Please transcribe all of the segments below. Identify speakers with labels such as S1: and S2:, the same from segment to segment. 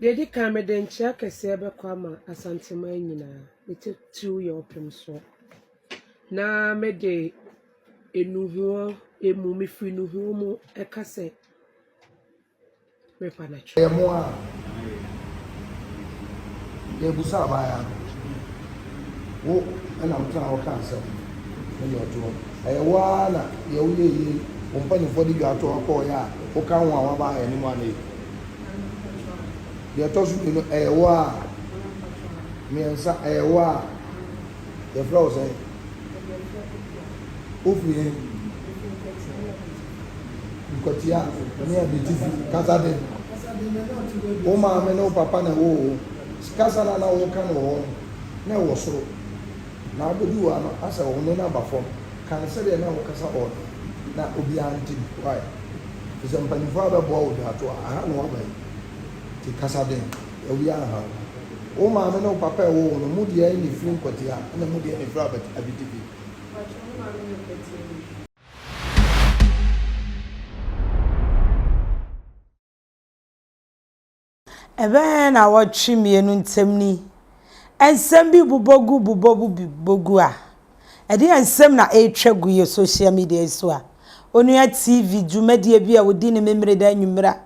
S1: Deɛ ɛdi kan, mede nkyea kɛseɛ bɛkɔ ama Asanteman nyinaa, ne titiriw yɛn Ɔpemsoɔ. Na mede nnuhoɔ mu, mefiri nnuhoɔ mu ka sɛ, mepa no akyɛw. Yɛ mo a
S2: yɛ busa abaayaa no wo ɛna mo tena hɔ ka asɛm mo deɛ ɔtoɔ ɛyɛ wo ara na deɛ wo yɛ yie wo mpaninfoɔ de dwa toɔ kɔɔ yɛ a wo ka ho a wo abaayaa ni mu a na yɛ Deɛ ɛtɔ so mmienu, ɛyɛ wo a. Mmiɛnsa, ɛyɛ wo a. Yɛfrɛ wo sɛn? Wofiri he? Nkwatia ne Abitifi. Kasa den. Wo maame ne wo papa na ɛwoo wo. Kasa no a na woka no wɔ hɔ no, na ɛwɔ soro. Na abɛduru ha no, asɛ wo ne no aba fam. Ka no sɛdeɛ na wokasa wɔ hɔ no, na obiara nte bi. Why? Te sɛ mpanyimfo a wɔbɛboa wo dwa to a, aha na woaba yi te kasa den, awi anha wo. Wo maame ne wo papa a ɛwoo wo no, emu deɛ na ɛfiri nkwatia ɛna emu deɛ na ɛfiri abati, abitifi.
S3: Ɛbɛyɛ nnawɔtwe mmienu ntam ni nsɛm bi bobɔ gu bobɔ gu bobɔ gu a, ɛdeɛn nsɛm na ɛretwa gu yɛ social media yi so a onua TV dwumadie bi a ɔdi no Memeneda anwummerɛ a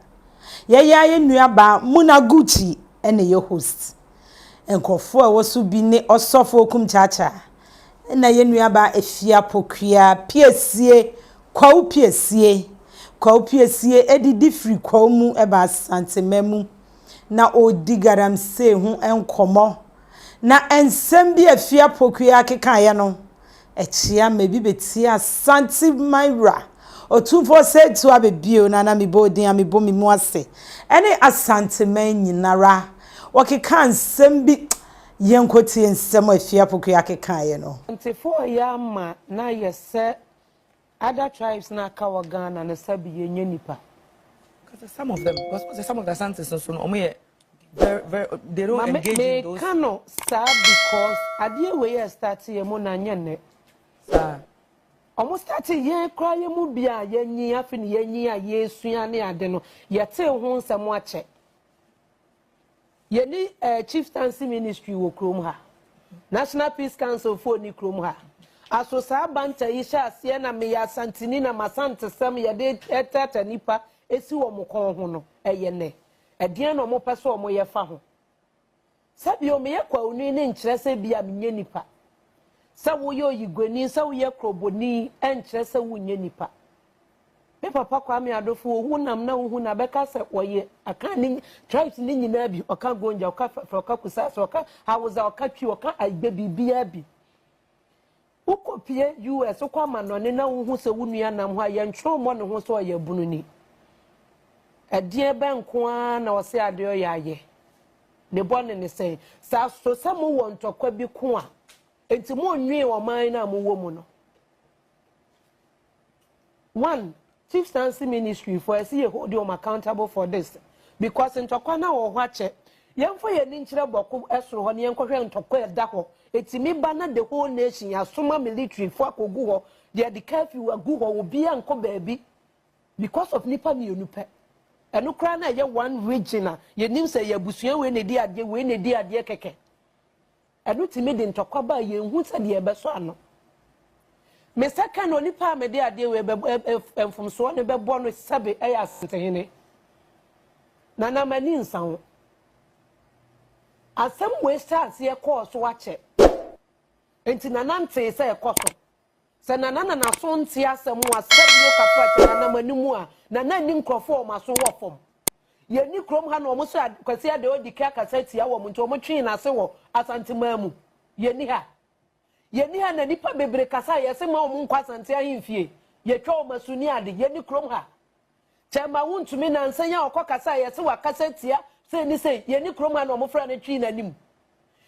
S3: yɛyɛ a yɛn nuabaa Muna Gucci na ɛyɛ host. Nkorɔfoɔ a ɛwɔ so bi ne Ɔsɔfo Okum Kyakya na yɛn nuabaa Afia Pokuaa Piesie, Kwawu Piesie. Kwawu Piesie adidi firi Kwawu mu ba Asanteman mu na ɔredi Galamsey ho nkɔmmɔ. Na nsɛm bi a Afia Pokuaa kekaeɛ no, Akyia mma bi bɛtie Asante man wura Otumfoɔ Sɛɛtu abɛ bio na na mebɔ odin a mebɔ me mu ase ɛne Asante man nyinara Wɔkekaa nsɛm bi Yɛnkɔtie nsɛm a Afie Apoku Akekaeɛ no. Asantefo yɛ ama
S1: no ayɛ sɛ Other tribes na aka wɔ Ghana no sɛbi yɛ nyɛ nipa. Kasa some
S4: of them because ɔsɛ some of the Asantes nso no ɔmo yɛ very very they don't engage in those. Mame meka no saa
S1: because adeɛ wei yɛ start yɛ mu na nyɛ nnɛ. Saa.
S4: Ɔmo
S1: start yɛn koraa yɛ mu bi a yɛ nyi afi ne yɛ nyi a yɛ sua ne ade no yɛ tee ho nsɛm akyɛ. Yɛni eh chieftaincy ministry wɔ kurom ha. National Peace Council foɔ ni kurom ha. Aso saa banter yi hyɛ aseɛ na meyɛ Asanteni na m'Asantesɛm yɛde ɛtɛɛtɛ nipa esi wɔn kɔn ho no ɛyɛ nɛ? Ɛdeɛn na wɔn pɛ sɛ wɔn yɛ fa ho? Sɛ bio meyɛ Kwauni no nkyerɛ sɛ bia menyɛ nipa. Sɛ woyɛ Oyiguani, sɛ woyɛ Kroboni ɛnkyerɛ sɛ wonyɛ nipa. Me papa Kwame Adofo wɔ honam na wohu na bɛka sɛ ɔyɛ Akan ne tribes ne nyinaa bi, ɔka Gonja, ɔka Fɛfrɛ, ɔka Kusase, ɔka Hausa, ɔka Twi, ɔka Igbe, biribiara bi. Wokɔpie US, wokɔ amanɔne na wohu sɛ wo nua nam hɔ a, yɛntwerɛ mmɔ ne ho sɛ ɔyɛ abununi. Ɛdeɛ bɛn nko ara na ɔse adeɛ ɔyɛ ayɛ? Ne bɔne ne sɛn? Saa so sɛ mowɔ ntɔkwa bi ko a, enti monnwee ɔman no a mowɔ mu no. one fifth sansi ministry fo ɛsi yɛ hold wɔn accountable for this because ntɔkwa na wɔ hɔ akyɛ yɛn fɔ yɛn ni nkyerɛ bɔko ɛsoro hɔ ne yɛn kɔhwɛ ntɔkwa ɛda hɔ etimi ba na the whole nation yasoma military fo akogu hɔ de ɛde curfew agu hɔ obi a nkɔ baabi because of nipa mmienu pɛ ɛno koraa na ɛyɛ one region a yɛnim sɛ yɛ abusua wei na edi adeɛ wei na edi adeɛ kɛkɛ Ɛno tumi de ntɔkwa ba a yenhu sɛdeɛ ɛbɛsɔ ano. Me nsa ka na onipa a mede adeɛ wei bɛbɔ ɛ ɛ ɛ mfomsoɔ no bɛbɔ no sɛbe ɛyɛ Asantehene. Na na m'ani nsa ho. Asɛm wei hyɛɛ aseɛ kɔɔ so akyɛ. Enti Nana ntee sɛ ɛkɔ so. Sɛ Nana na n'aso nte asɛm ho a, sika bi na ɔka so a, kyɛ Nana ma no mu a, Nana nni nkurɔfo a wɔn aso wɔ fam. Yɛnni kurom ha na wɔn sɛ Kwasi Adeodike akasa atia wɔn nti wɔtwee n'ase wɔ Asanteman mu. Yɛnni ha. Yɛnni ha na nnipa bebree kasa a yɛse mma wɔn nkɔ Asante ahemfie. Yɛtwa wɔn asu ne ade. Yɛnni kurom ha. Kyɛ mma wontumi nansa yi a ɔkɔ kasa a yɛse wakasa atia sei ne sei. Yɛnni kurom ha na wɔfrɛ no twee n'anim.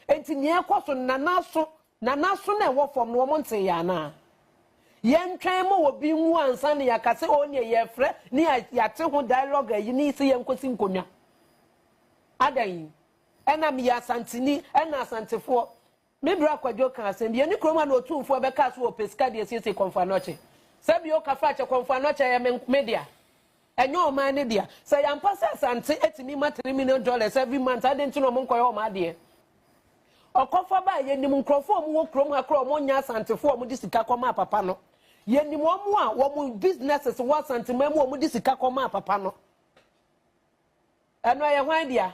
S1: Enti nea ɛkɔ so no Nana aso Na n'aso na ɛwɔ fam no wɔn ntee yɛ anaa? Yɛntwɛn ma obi nwu ansa na yɛaka sɛ oo neɛ yɛrefrɛ ne yɛate ho dialogue ayi ne sɛ yɛnkɔsi nkonnwa. Adɛn? Ɛna meyɛ Asanteni, ɛna Asantefoɔ. Me bra Kwadwo kaa asɛm bi, yɛne kurom ha na Otumfoɔ bɛkaa so wɔ ɔpɛ sika de asiesie Kɔmfo Anɔkye. Sɛbi oo Kafrakyɛ, Kɔmfo Anɔkye yɛ me dea. Ɛnyɛ ɔman no dea. Sɛ yɛampɛ sɛ Asante atumi ma three million dollars every month a, adɛn nti na wɔnkɔyɛ wɔn adeɛ? Ɔkɔfa baa yɛnim nkurɔfoɔ a wɔwɔ kurom ha koraa a wɔnyɛ Asantefoɔ a wɔde sika kɔmaa papa no. Yɛnim wɔn a wɔn businesses wɔ Asanteman mu a wɔde sika kɔmaa papa no. Ɛno ɛyɛ hwan dea?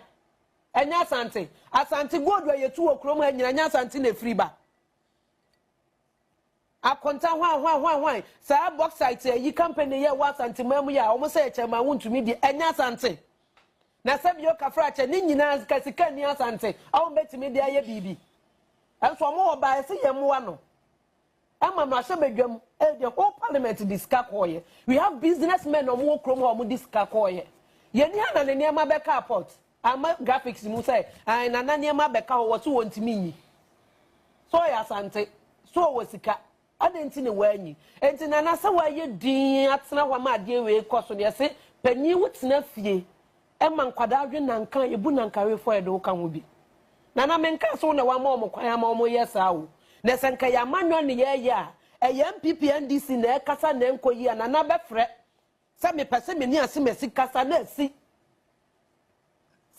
S1: Ɛnyɛ Asante. Asante gold a yɛtu wɔ kurom ha nyina ɛnyɛ Asante na ɛfiri ba. Akonta hwan hwan hwan hwan saa bauxite ayi company yɛ wɔ asante man mu yɛ a wɔn sɛ yɛ kyɛn ma wontumi deɛ ɛnyɛ asante na sɛ bio kafra kyɛ ne nyinaa sika sika ni asante a wɔn bɛtumi de ayɛ biribi ɛnso wɔn wɔ baa ɛsɛ yɛn mmoa no ɛma no ahyɛ badwam ɛyɛ the whole parliament de sika kɔɔyɛ we have business men wɔn wɔ kurom hɔ wɔn de sika kɔɔyɛ yɛn ni ha na ne nneɛma bɛka apɔt. Ama graphics mu sɛ ae nana nneɛma bɛka hɔ wɔse wɔntumi nyi so ɔyɛ asante so ɔwɔ sika adɛn nti na wɔanyi enti nana sɛ wɔayɛ din atena hɔ ama adeɛ wei kɔ so deɛ se panyin wo tena fie ɛma nkwadaa dwe nanka yɛbu nankawefoɔ yɛde wo ka ho bi nana menka so wo na wama wɔn kwan ama wɔn yɛ saa o na sɛ nka yɛ amanyɔ ne yɛyɛ a ɛyɛ npp ndc na ɛkasa na ɛnkɔ yi a nana bɛfrɛ Sɛ mepɛ sɛ me ne asemasi kasa na asi.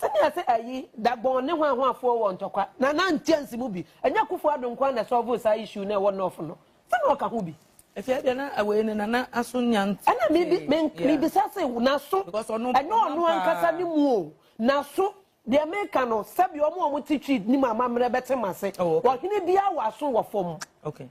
S1: Sɛnea sɛ ayi Dagbon ne Hwanhwafoɔ wɔ ntɔkwa na na ntiansi mu bi. Ɛnyɛ Akufo Addo nko ara na ɛsɔɔvoo saa issue no a ɛwɔ North no. Sɛ na ɔka ho bi. Ɛfei deɛ na
S4: wei no Nana aso nnya nte. Ɛna mebi me
S1: mebisa se n'aso. Because ɔno mpoma paa. Ɛnyɛ ɔno ankasa ne mu o. N'aso deɛ meka no sɛbi wɔn a wɔte Twi nim amammerɛ bɛte m'ase. Oh okay. Ɔhene biara wɔ aso wɔ fam. Okay.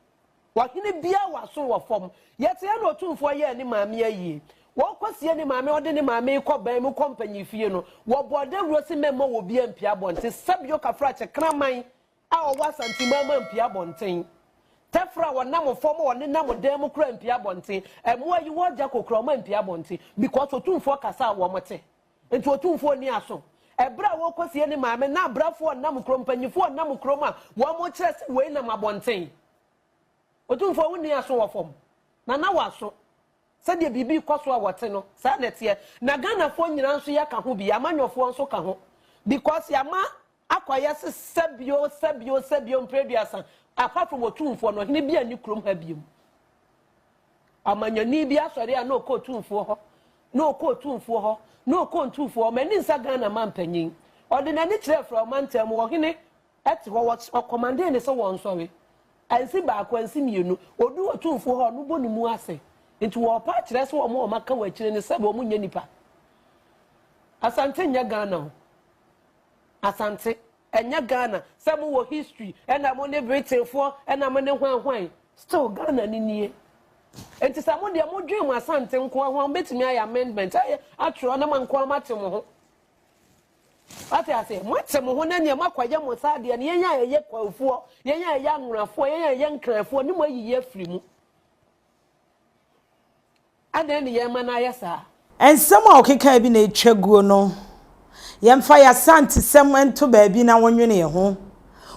S4: Ɔhene
S1: biara wɔ aso wɔ fam. Yɛsɛɛ na Otumfoɔ yɛɛ ne maame ayie. Wɔkɔsie ne maame, ɔde ne maame rekɔ ban mu kɔ mpanyinfie no, wɔbɔɔ dawuro se mɛmma wɔ obiara mpue abɔnten. Sɛbio Kafrakye kraman a ɔwɔ Asante Maama mpue abɔnten. Tɛfra a ɔnam fam a ɔnenam dan mu koraa mpue abɔnten. Mmoa a yi wɔn gya kɔkura wɔn a mpue abɔnten because Otumfoɔ kasa a wɔte. Enti Otumfoɔ nni aso. Ɛberɛ a wɔrekɔsie ne maame na abrafoɔ nam kurom, mpanimfoɔ nam kurom a wɔrekyerɛ sɛ wei nam abɔnten. Otumfoɔ wo nni aso wɔ fam, na na w'aso. Sɛdeɛ biribi rekɔ so a wɔte no, saa na ɛteɛ. Na Ghanafoɔ nyinaa nso yɛka ho bi, Amanyɔfoɔ nso ka ho because yɛama Akɔyɛ se sɛ bio, sɛ bio, sɛ bio mpre aduasa, apart from Otumfoɔ no, ɔhene bia nni kurom ha biom. Ɔmanyɔni bi asɔre a na ɔkɔ Otumfoɔ hɔ, na ɔkɔ Otumfoɔ hɔ, na ɔkɔ Ntumfoɔ hɔ, m'ani nsa Ghana mampanyin. Ɔde n'ani kyerɛɛ frɛ ɔmantam mu, ɔhene te hɔ, ɔkɔmandee ne sɛ wɔnsɔre. Ansi baako, ansi mmienu, ɔduu Otumfoɔ hɔ a, ɔno bɔ ne mu ase. Nti wɔɔpa akyerɛ sɛ wɔn a wɔaka wɔ akyire no sɛbe wɔn nyɛ nipa. Asante nyɛ Ghana o. Asante, ɛnyɛ Ghana, sɛ mo wɔ history ɛna mo ne Britain foɔ ɛna mo ne hwan hwan, still Ghana no nie. Nti sɛ mo deɛ mo dwen mo Asante nkoa ho a, mo bɛtumi ayɛ amendment ayɛ atwerɛ na mo nkoa mo ate mo ho. Wate aseɛ, mo ate mo ho na neɛ mo akɔ ayɛ mo saa deɛ no, yɛn a ɛyɛ Kwafoɔ, yɛn a ɛyɛ Anworafoɔ, yɛn a ɛyɛ Nkranfoɔ ne mo ayiyi afiri mu. Adɛn ne yɛn ma no ayɛ saa? Nsɛm a ɔkekae
S3: bi na etwa guo no, yɛmfa yɛn Asantesɛm nto baabi na wonwenee ho.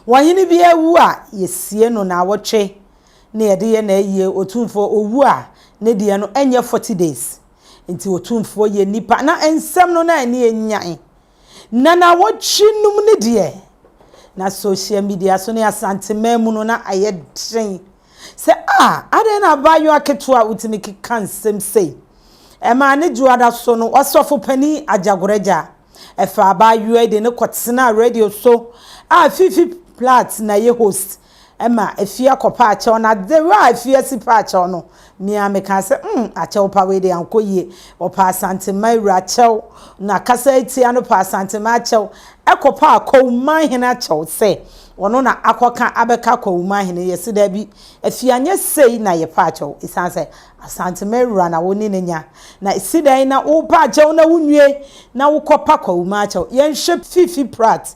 S3: Ɔhene bi awu a, yesie no naawɔtwe na yɛde yɛ no ayie. Otumfoɔ owu a, ne deɛ no ɛnyɛ forty days. Enti Otumfoɔ yɛ nipa na nsɛm no na ani enyan Ná nnawɔtwe nnum ni deɛ, na sohyia midia so ne Asanteman mu no na ayɛ den sɛ, A, adɛn na abaayewa ketewa a wotumi keka nsɛm sei? Ɛmaa ne dwoada so no, Ɔsɔfo Panin Agyagoregya faa abaayewa yi de no kɔtenaa radio so a Fifi Platt na ɛyɛ host ma afie kɔpa akyɛw no ade wɔ a afie asi pa akyɛw no me ara mekaa sɛ hmm akyɛw pa wei deɛ ankɔ yie ɔpaa Asantema awura akyɛw na kasa yi tia no paa Asantema akyɛw kɔpaa Kwawumahene akyɛw sɛ ɔno na akɔka abɛka Kwawumahene yɛse daabi afie anyɛ sei na yɛpɛ akyɛw ɛsiane sɛ Asantema awura na wo ne no nya na ɛsi dɛn na wopɛ akyɛw na wonwie na wokɔpa Kwawuma akyɛw yɛnhwɛ Fifi Pratt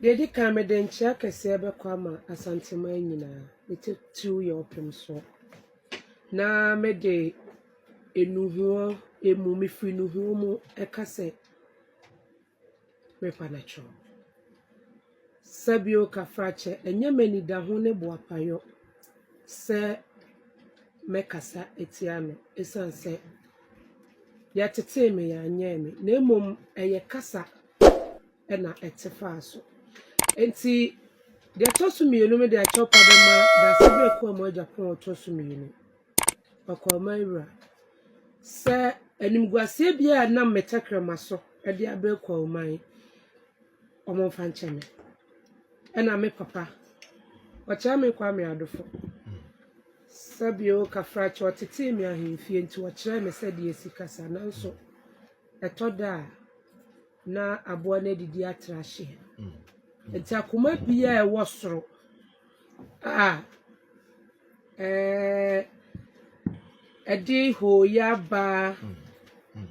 S1: Deɛ ɛdi kan, mede nkyea kɛseɛ bɛkɔ ama Asanteman nyinaa, ne titiriw yɛn Ɔpemsoɔ. Na mede nnuhoɔ mu, mefiri nnuhoɔ mu ka sɛ, merepa no akyɛw. Sa bio Kafrakyɛ, ɛnyɛ m'anidaho ne boapayɔ sɛ mɛkasa atia no ɛsiane sɛ yɛtetee me, yɛanyɛɛ me, na mmom ɛyɛ kasa. na ɛte faa so. Enti, deɛ ɛtɔ so mmienu no de akyɛwpa bɛma dase berɛ kɔɔ mu agya pɔn a ɔtɔ so mmienu. Ɔkɔrman wura. Sɛ animguaseɛ biara a nam me tɛkrɛma so de abrɛ Kɔrman yi, wɔmfa nkyɛ me. Ɛna me papa, Ɔkyerɛme Kwame Adofo, sɛbio Kafrakyɛ, ɔtetee me ahemfie nti ɔkyerɛɛ me sɛdeɛ ɛsi kasa nanso ɛtɔ da a, na aboa no adidi atra ahye. Nti akoma biara a ɛwɔ soro a ɛɛ ɛde hooyɛ aba,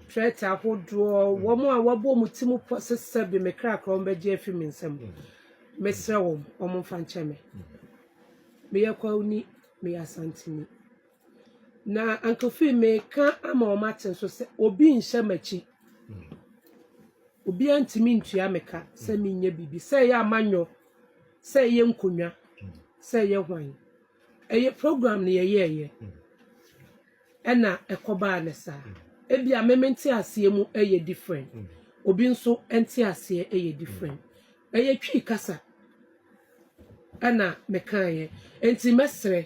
S1: threat ahodoɔ, wɔn a wɔabɔ wɔn ti mu pɔ sɛ sɛbe me kra koraa wɔbɛgye afi me nsam. Mesrɛ wɔn, wɔmfa nkyɛ me. Meyɛ Kwauni, meyɛ Asanteni. Na anka ofii meka ama wɔate nso sɛ obi nhyɛ m'akyi. Obiara ntumi ntua me ka sɛ menyɛ biribi, sɛ ɛyɛ amanyɔ, sɛ ɛyɛ nkonnwa, sɛ ɛyɛ hwan. Ɛyɛ program no yɛyɛeɛ, ɛna ɛkɔbaa no saa. Ebia me me nteaseɛ mu yɛ different, obi nso nteaseɛ yɛ different. Na yɛtwii kasa, ɛna mekaeɛ. Enti mɛsrɛ.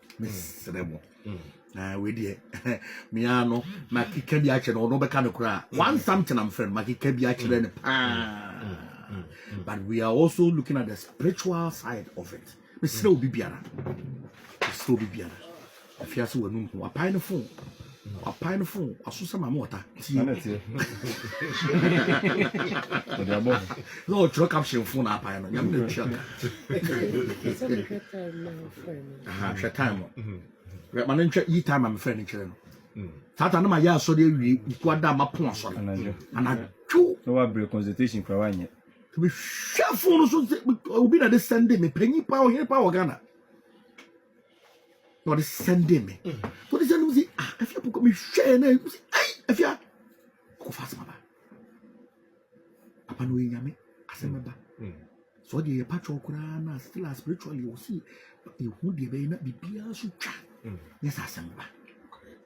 S5: mesrɛ mo na wei deɛ mea no makeka bi akyerɛ no ɔno bɛka no koraa one something am frɛ no makeka bi akyerɛ no paa but we are also looking at the spiritual side of it mesrɛ obi biara mesrɛ obi biara afiase w'anum ho apae no fo Wapae no fon waso sɛ maame ɔta tie na ɛteɛ ɔde abɔ ho na ɔtwerɛ caption fon na apae no nyame na tua ka hwɛ time no ma no ntwa yi time a mefrɛ no nkyerɛ no saa ta no ma yɛ asɔre awie nkuku ada ma po asɔre anadwo na wabrɛ consultation
S6: kora wanyɛ mehwɛ
S5: fon no so obi na de sɛnde me panyin pa ɔhene pa wɔ ghana na ɔde sɛnde me mm. na ɔde sɛnde me sɛ ah afia pɔkɔ me hwɛɛ na ɛmu sɛ ɛyi afia ɔkɔ fa asɛm aba papa na ɔyɛ nyame asɛm ɛba mm. so ɔde yɛ patwɔ koraa na still a spiritually ɔsi ehu deɛ bɛyɛ na biribiara so twa mm. nyɛ sɛ asɛm ba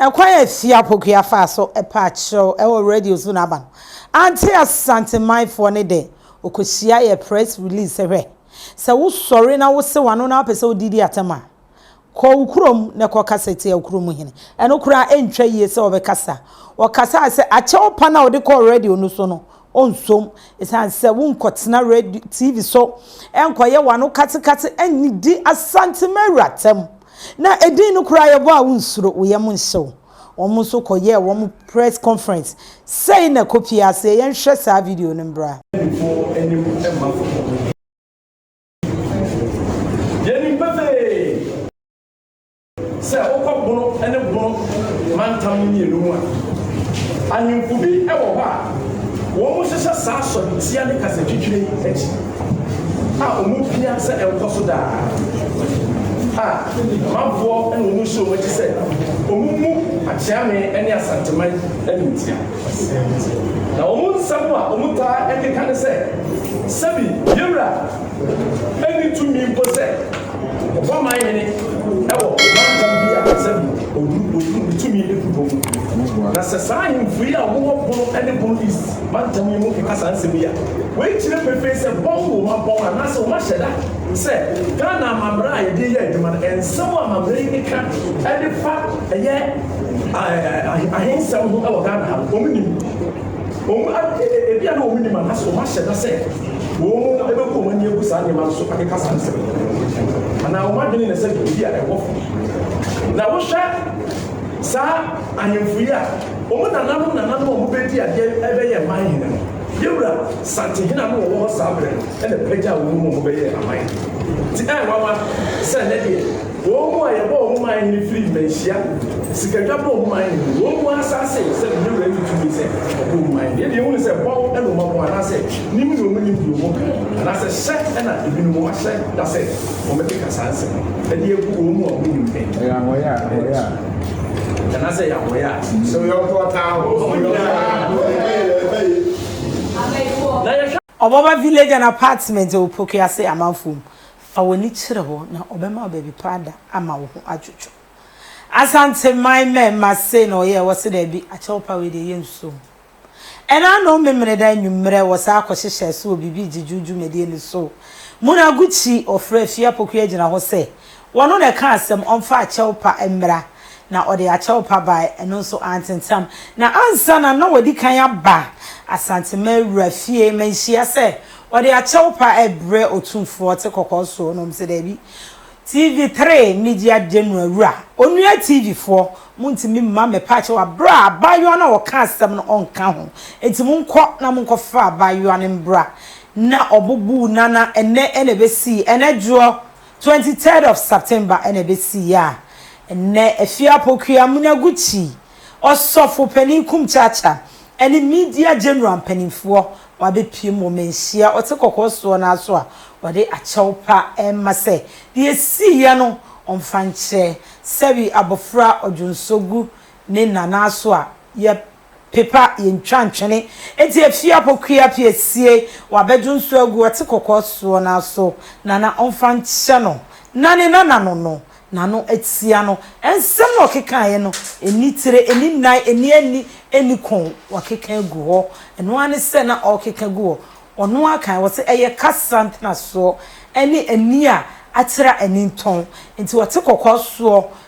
S3: Ɛkwan a Afie Apokua faa so pɛ akyerɛw wɔ radio so na aba no ante Asante manfoɔ no dɛ. Ɔkɔhyiae yɛ press release sɛ hwɛ, sɛ wo sɔre na wo se w'ano na wopɛ sɛ wode di atɛm a, kɔ wo kurom na kɔ kasa tia wo kurom hene. Ɛno koraa ɛntwa yie sɛ ɔbɛkasa. Ɔkasae sɛ akyɛw pa no a ɔde kɔɔ radio no so no, Ɔnsom, esiane sɛ wonkɔtena radio, TV so, nkɔyɛ wɔn ano katekate, nnidi Asantema awuratam. Ná edin no koraa yɛ bɔ a wonsuro, wo yam nhyew. Wɔn nso kɔyɛɛ wɔn press conference. Sei na kopi a aseɛ, yɛnhwɛ saa video no mmra.
S6: Sɛ wokɔ Bono ne Bono mantam mmienu mu a, ahemfo bi wɔ hɔ a wɔhyehyɛ saa sɔretia ne kasatwitwire yi akyi a wɔpia sɛ ɛnkɔ so daa a ɔmanfoɔ na wɔn nhyɛ wɔn akyi sɛ wɔmmu Akyeame ne Asanteman animtia. Na wɔn nsɛm a wɔtaa keka ne sɛ sɛbi yɛwura nni tumi mpo sɛ Ɔbɔ man hene wɔ mantam bi a ɛsɛ bi, oduru po so, ne tumi gu po mu. Na sɛ saa ahemfo yi a wɔwɔ Bono ne Bono East mantam yi mu keka saa nsɛm yi a, wei kyerɛ pefee sɛ bɔn wom, abɔn anaasɛ wɔahyɛ da sɛ Ghana amammerɛ a yɛde reyɛ adwuma no, nsɛm a amammerɛ yi keka de fa ɛyɛ ahensɛm ho wɔ Ghana ha no, wɔn nim. Wɔn a ebia na wɔnnim anaasɛ wɔahyɛ da sɛ wɔbɛbu wɔn ani agu saa nneɛma no so akeka saa nsɛm no, anaa wɔn adwene na sɛ biribi a ɛwɔ fam. Na wohwɛ saa ahemfo yi a, wɔn nananom nananom a wɔbɛdi adeɛ ɛbɛyɛ man hene no, yɛwura Santehene a na wɔwɔ hɔ saa berɛ no ɛna pagyaa wɔn mu wɔbɛyɛ aman. Nti ɛyɛ nwanwa sɛ ɛnɛ deɛ Wɔn mu a yɛbɔ wɔn man hene firi mmanhyia sikadwa bɔ wɔn man hene, wɔn mu asaase sɛ ne wura nni tumi sɛ ɔbɔ wɔn man hene. Yei deɛ yɛhunu sɛ bɔn na wɔn abɔ anaasɛ nim na wɔnim deɛ wɔka yi, anaasɛ hyɛ na ebinom wɔahyɛ da sɛ wɔbɛkeka saa nsɛm yi de agu wɔn mu a wɔnim pɛ. Ɛyɛ ahɔeɛ a wɔyɛ a. Anaasɛ ɛyɛ ahɔeɛ a. Sɛ wo yɔnko ɔtaa wo. Ɔmo nyinaa.
S3: Ɔbɔba Village and Apartment wɔ Pokuase amanfoɔ mu. Fa w'ani kyerɛ hɔ na ɔbɛma baabi pa ada ama wo ho adwodwo. Asanteman mɛma sei na ɔyɛɛ wɔ se daabi akyɛw pa wei deɛ yɛ nsuo ho. Ɛna anom memeneda anwummerɛ wɔ saa kɔhyehyɛɛ so wɔ biribi gyegyew dwumadie no so. Muna Gucci ɔfrɛ Afie Apoku agyina hɔ sɛ Wɔno na ɛkaa asɛm ɔmfa akyɛw pa mmra, na ɔde akyɛw pa bae, ɛno nso antentam. Na ansa na na wadi kan aba Asantema wura fie manhyia sɛ ɔde akyɛw pa rebrɛ Otumfoɔ ɔte kɔkɔɔ soɔ no, ɔse daabi. TV three Media General wura, Onua TV foɔ, montumi mma me pa akyɛw a berɛ a abaayewa no a ɔka asɛm no ɔnka ho, enti monkɔ na monkɔfa abaayewa no mbra na ɔbobuu nana ɛnnɛ na ɛbɛsii ɛnnɛ dwoɔ. Twenty third of September na ɛbɛsiiɛ a nnɛ Afiapokuya Munaguchi, Ɔsɔfo panin Kumchacha ne Media General mpanimfoɔ wɔabɛpiem wɔ manhyia ɔte kɔkɔɔ soɔ no ara so a wɔde akyɛw pa rema sɛ deɛ ɛsiiɛ no wɔmfa nkyɛ sɛwi abɔfra Odwonsogbu ne Nana so a yɛp Pepa yɛntwa ntwene nti efie apokuya pie sie wabɛdwo nsuo agu ɔte kɔkɔɔ soɔ no ara so nana ɔmfa nkyɛ no na ne nana no no nano atia no nsɛm na ɔkekaeɛ no ɛnni tire ɛnni nnan ɛnni ani ɛnni kɔn wakeka agu hɔ ɛno ara ne sɛ na ɔrekeka gu hɔ ɔno ara kan wɔse ɛyɛ kasa ntenasoɔ ɛne ani a akyerɛ a ani ntɔn nti ɔte kɔkɔɔ soɔ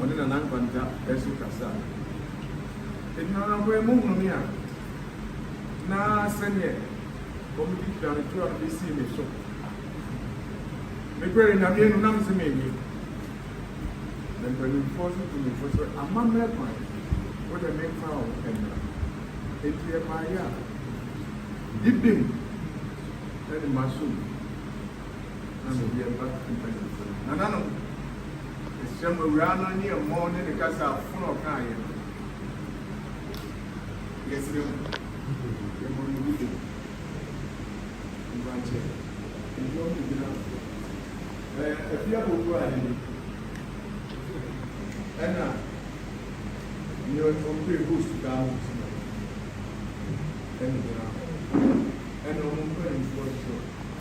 S7: Ɔne Nana Nkwanta nso kasaa. Enti na anɔpa yi mohunu me a, na sɛdeɛ wɔde twa me toa no bɛsii me so. Mebrɛɛ Nyame anum na mese mennye. Na mpanimfoɔ nso tuu me fo sɛ, Amammerɛ kwan, wo deɛ memfa wo mmra. Enti yɛbaeɛ a, bibim ne m'aso mu. na mede reba mpanyimfo no. Nananom, mesrɛ mo, awuraa no ne ɛmmɔ ne ne kasa a fon a ɔkaeɛ no. Yɛsrɛ mo, yɛbɔ no yiye. Mpakyɛ, nnwom no gyina so. Ɛyɛ afie abɔfo ade bi. Ɛna nea ɔpere host daa no nso na ɛne gyina hɔ. Ɛna wɔn mpanimfoɔ nso.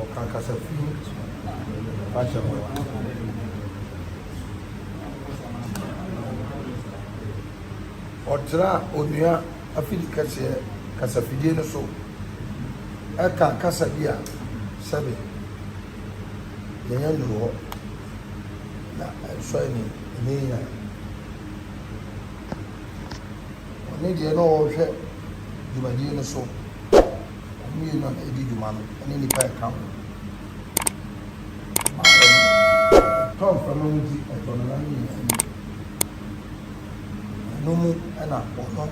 S2: Ɔka kasa fi mu fa kyɛ no a. Ɔtra onua afidi kɛseɛ kasafidie no so ka kasa bi a sɛbe yɛnya nnuru hɔ na ɛnsɔ ani ɛnyɛ yie a. Ɔne deɛ na ɔrehwɛ dwumadie no so. Wɔn mmienu na ɛdi dwuma no ne nnipa a ɛka ho. Ɛma wɔn tɔ mframa mu di ɛtɔ no na no nyinaa ni. Ɛno mu na wɔn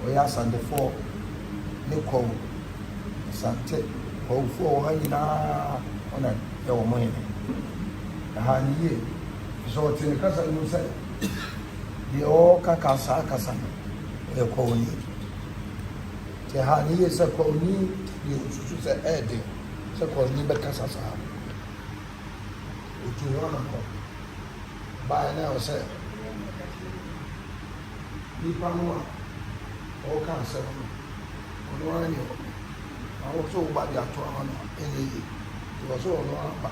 S2: wɔyɛ asandefoɔ ne kɔw, asante kɔwfoɔ wɔ ha nyinaa wɔn na yɛ wɔn hene. Ɛha no yie fi sɛ ɔte ne kasa no mu sɛ deɛ ɔreka ka saa kasa no yɛ kɔwni. Te ha no yiye sɛ Kɔɔni deɛ osusu sɛ ɛyɛ den sɛ Kɔɔni bɛkasa saa no, otuu ho anammɔn baeɛ na ɛwɔ sɛ nnipa no a ɔreka asɛm no, ɔno ara ne ɔba. Na wo nso wo ba de ato ama no a, ɛnyɛ yie. Enti ɛwɔ sɛ ɔno ara ba.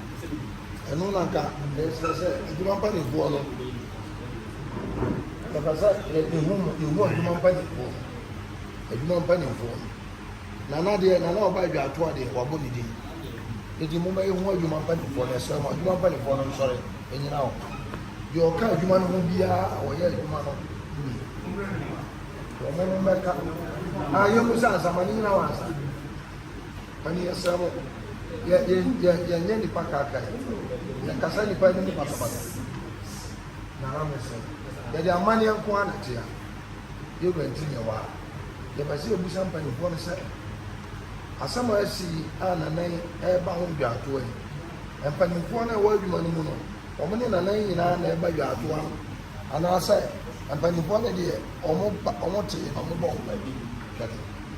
S2: Ɛno na anka mereserɛ sɛ adwuma mpaninfoɔ no yɛpɛ sɛ yɛhu mu yɛhu adwuma mpaninfoɔ adwuma mpaninfoɔ no nana deɛ nana ɔba adwa ato adeɛ wabɔ ne din eti mo ma yɛhu adwuma mpaninfoɔ no ɛsrɛ mo adwuma mpaninfoɔ no nsɔre ɛnyina hɔ deɛ ɔka adwuma no ho biara a ɔyɛ adwuma no ni wɔn mmɛka a yɛn mu sɛ ansa ma ne nyina wɔn ansa. Ɔne yɛsrɛ mo, yɛ yɛ yɛ yɛnyɛ nnipa kaakae, yɛnkasa nnipa anim no basabasa. Na na mesrɛ, yɛde amanneɛ nko ara na ɛte a, yɛn wura nti na yɛwɔ ha. Yɛpɛ sɛ yɛbisa mpanimfoɔ no sɛ, asɛm a asi yi a Nanan reba ho dwaatoa yi, mpanimfoɔ no a ɛwɔ adwuma no mu no, wɔn ne Nanan nyinaa na ɛba dwaatoa no anaasɛ mpanimfoɔ no deɛ wɔba wɔte na wɔbɔ ho pɛ? Hwɛ no.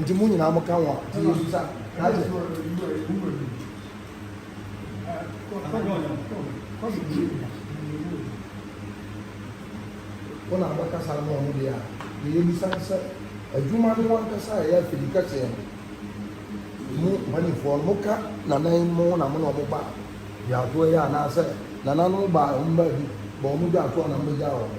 S2: Nti mo nyinaa mo ka ho a. Nti yesu sa na kyɛ. Wo na abɛ kasa ama ɔmo deɛ a deɛ yɛ bisa ne sɛ adwuma no wankasa a ɛyɛ afidi kɛseɛ no mo mpanyinfoɔ no mo ka nanan mo na mo na ɔmo ba dwatoɔ yi anaa sɛ nananom baa ɔmo baa bi bɔ ɔmo dwatoɔ na mo bɛ gyaa ɔmo.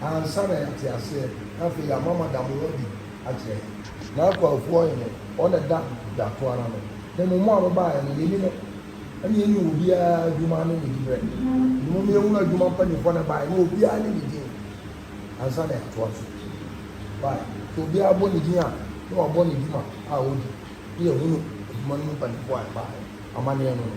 S2: ansa na yɛate aseɛ, na afei yɛama moada mo ho adi akyerɛ yɛn. Na akuafoɔ hene, ɔno na ɛda dwato ara no, he mo, mo a mobaeɛ no, yɛnni no, ɛne yɛnni wɔ obiara adwuma ne ne diberɛ, enti momma yɛnhunu adwuma mpanimfoɔ no a ɛbaeɛ no, obiara ne ne din, ansa na yɛatoa so. Bae. Sɛ obiara bɔ ne din a, na wabɔ ne dwuma a ɔdi, na yɛahunu adwuma no mu mpanimfoɔ a ɛbaeɛ, amanneɛ no no.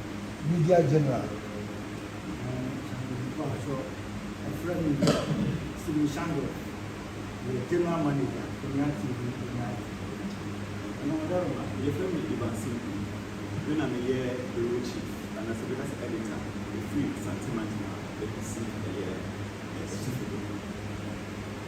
S2: Media General.
S8: Steven Shangle yɛ General Manager Premiere TV Ghana. Yɛfrɛ me Ivan
S9: Simpi. Me na meyɛ Bureau Chief anaasɛ bɛka sɛ Editor ɛfiri Asante Mantam a ɛkɔsi ɛyɛ Sotefo.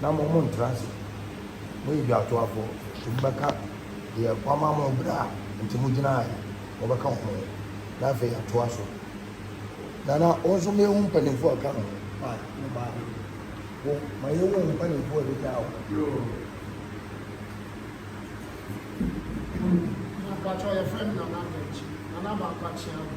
S2: Na mo, montra ase, mo edwatoafoɔ, nti mobɛka deɛ wama mo berɛ a nti mogyinaaɛ no, mobɛka wɔn ho, na afei atoa so. Na na wo nso ma yɛhu mpaninfoɔ a ɛka ho. A, wo baa he? Wo, ma yɛhu mpaninfoɔ a ɛbɛgyaa wo. Mpakyɛw yɛfrɛ no Nana Dankye Nana Baako
S8: Akyea Agu.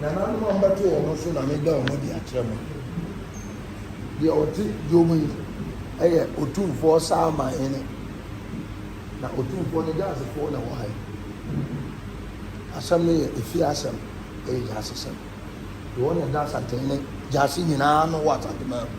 S2: nananom a mbɛto wɔn so na meda wɔn adi akyerɛ mo. Deɛ ɔte dwa mu yi yɛ Otumfoɔ Salman hene, na Otumfoɔ no Gyasefoɔ na ɛwɔ ha yi. Asɛm no yɛ efie asɛm, ɛyɛ Gyasesɛm. Deɛ ɔne da Asante ne Gyase nyinaa no wɔ Asante man mu.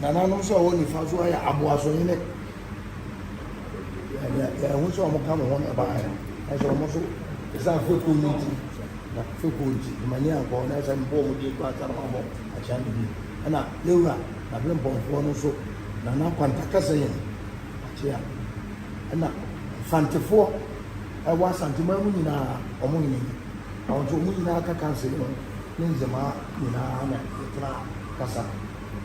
S2: Nananom nso a wɔwɔ nifa so ayɛ aboasohene. Ɛho sɛ wɔn ka mo ho na ɛbaa yɛ. Ɛsɛ wɔn nso ɛsɛ afɛkuo no nti na afɛkuo nti ɛma ni ankɔ na ɛsɛ mpo wɔn de kura ata no abɔ akyɛn no bi. Ɛna yɛwura n'abere mpɔnfoɔ no nso nana kwanta kasa yɛn akyea. Ɛna mfantefoɔ ɛwɔ asanteman mu nyinaa wɔn hene. Na ɔdze hɔn nyina ka kansel no ne ndzɛmba nyina na yɛtsenaa kasa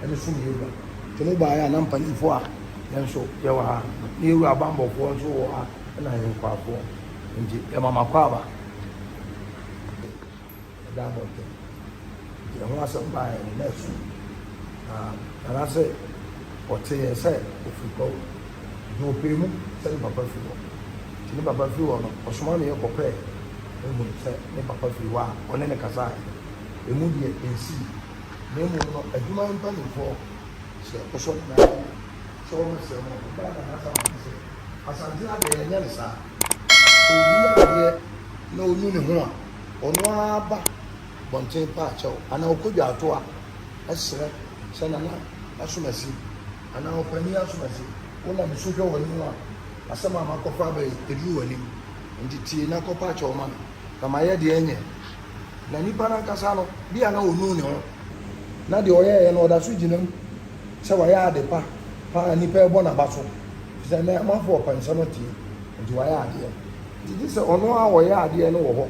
S2: dze soom Yehowa. Sɛ mobae a na mpanyimfo a hɛn so yɛwɔ ha, na yewura bambɔfoɔ nso wɔ ha na hɛn nkoafoɔ nti yɛma m'akwaaba de ɛda abɔnten nti ɛho asɛm baeɛ no na ɛso na nanase ɔtee yɛn sɛ ofiri kwawu. Enti ɔpɛɛ mu sɛ ne papa firi hɔ. Enti ne papa firi hɔ no, ɔsomaa ne yere kɔpɛɛ Aaron sɛ ne papa firi hɔ a ɔne no kasaeɛ no, emu deɛ ɛnsii. Na mmom no, adwuma mpanimfoɔ hyɛɛ ɔsɔre no ase sɛ wɔmmɛsrɛ mo. Ɛbaa da no, Asa kaa sɛ, Asante ha deɛ, yɛnyɛ no saa. Sɛ obi yɛ adeɛ na ɔnu ne ho a, ɔno ara ba bɔnten pɛ akyɛw anaa ɔkɔdwa atoa srɛ sɛ, Nana, ma so masi. Anaa ɔpanin asorɔkye, wonam nsu hwɛ w'anim a, asɛm a makɔfa aba yi, ɛduru w'anim. Enti tie na kɔpa kyɛw ma me, na mayɛ deɛ ɛnyɛ. Na nipa no ankasa no, bia na ɔnuu ne ho. Na deɛ ɔyɛeɛ no, ɔda so gyina mu sɛ wayɛ ade pa pa a nnipa rebɔ n'aba so, ɛfiri sɛ na amanfoɔ pɛ nsɛm atie, enti wayɛ adeɛ. Enti gye sɛ ɔno a ɔyɛɛ adeɛ no wɔ hɔ,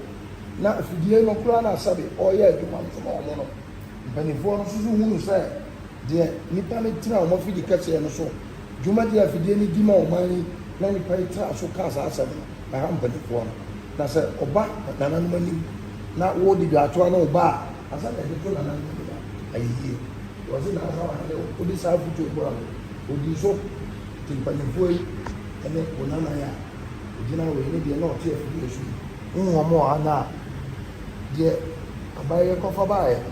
S2: na afidie no kura no a sɛbe ɔreyɛ adwuma no so ma wɔn no, mpanimfoɔ no nso hunu sɛ Deɛ nnipa no tena wɔn afidi kɛseɛ no so dwumadie a afidie no di ma ɔman yi na nnipa yi tena so kaa saa asɛm no na ɛha mpanimfoɔ no. Na sɛ ɔba nananom anim na woredi dwaatoa ne wo ba a, ansa na yɛde to nananom anim a, ayɛ yie. Wɔse nansa wahene o, wode saa afotuo yi boa no, ɔdii so. Nti mpanimfoɔ yi ne wo nana yi a ɔgyina wei ne deɛ na ɔte afidie so yi. Wo wɔn a na deɛ aban yi kɔfa baeɛ no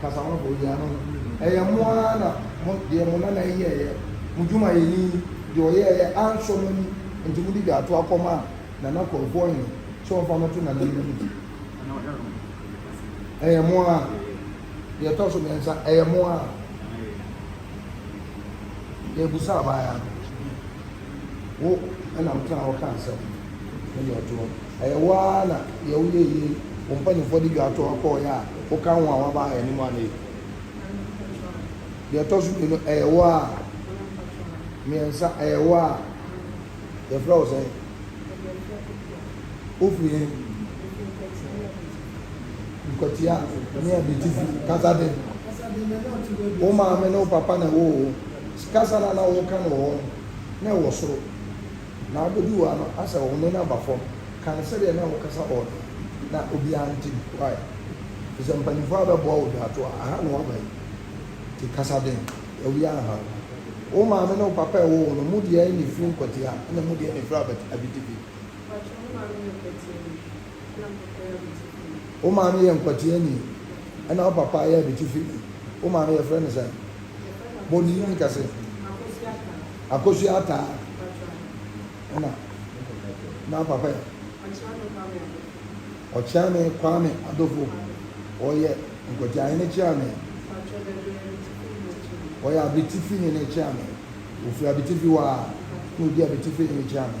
S2: Kasa ho bɔ yi ano no, ɛyɛ mo ara na mo, deɛ mo nana yi yɛeɛ, mo dwumayɛni yi, deɛ ɔyɛeɛ ansɔ mo ani nti mode dwaato akɔma Nana Korɔfoɔ Hene sɛ ɔmfa mmɛto Nana no anim. Ɛyɛ mo ara. Deɛ ɛtɔ so mmiɛnsa, ɛyɛ mo ara. Deɛ ɛbusa abaayaa no, wo ɛna wotenaa hɔ kaa asɛm no, ne deɛ ɔte hɔ no. Ɛyɛ wo ara na deɛ woyɛɛ yie yi wo mpanimfoɔ de dwa toɔ kɔeɛ a woka ho a woaba yɛn anim anee? Deɛ ɛtɔ so mmienu, ɛyɛ wo ara? Mmiɛnsa, ɛyɛ wo ara? Yɛfrɛ wo sɛn? Wofiri he? Nkwatia ne Abitifi. Kasa den. Wo maame ne wo papa na ɛwɔ wo ho. Kasa no a na woka no wɔ hɔ no, na ɛwɔ soro. Na abɛduru ha no asɛ ɔhome no aba fam kan sɛdeɛ na wokasa hɔ no na obiara nte bi why? Firi sɛ mpaninfoɔ abɛboa wo dwaato a aha na waba yi nti kasa den awia anha wo. Wo maame ne wo papa a ɛwɔ wo no mu deɛn na ɛfiri nkwatia ɛna mu deɛn na ɛfiri abɛt abitibi? Mpakyɛ wo maame yɛ ɔkwatia bi? Wo maame yɛ nkwateani ɛna wo papa yɛ abitifini wo maame yɛfrɛ no sɛn? Bɔnii ne kɛse Akosua Ataa ɛna na wo papa yɛ? Ɔkyeame Kwame Adofo Ɔyɛ nkwateahene kyeame Ɔyɛ abitifini ne kyeame Ɔfiri abitifi hɔ a na ɔdi abitifi ne kyeame.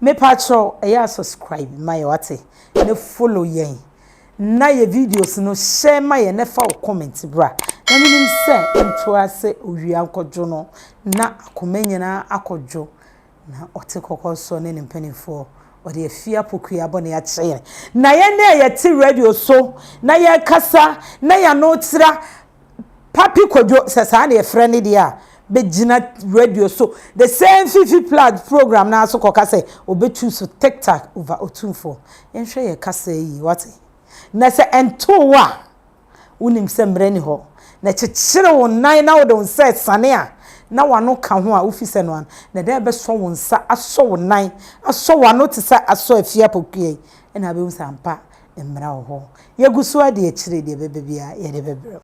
S3: Mepakyɛw ɛyɛ a subscribe ma yɛ wate na follow yɛn na yɛ videos no share ma yɛn na fa wo comment bra na menim sɛ ntoa sɛ owia nkɔdwo no na akoma nyinaa akɔdwo na ɔte kɔkɔ nso ne ne mpaninfoɔ ɔde afie apokua bɔne akyɛ yɛn na yɛn a yɛte radio so na yɛkasa na yɛano tra Papi Kwadwo sɛ saa na yɛfrɛ no deɛ a, bɛgyina radio so, the same Fifi Plug program no ara so kɔka sɛ ɔbɛ choose Tiktak over Otumfoɔ. Yɛnhwɛ yɛn kasaa yie, woate? Na sɛ ɛntoo wo a, wonim sɛ mmerɛ nni hɔ, na kyekyere wo nan na wode wo nsa asiane a, na w'ano ka ho a, wofi sɛ no ano, na dɛn bɛsɔ wo nsa, asɔ wo nan, asɔ w'ano te sɛ asɔ afie apɔkua yi, ɛna wobɛhu sɛ ampa mmara wɔ hɔ. Yɛgu so ara di akyire, deɛ ɛbɛba biara, yɛde bɛbrɛ wo.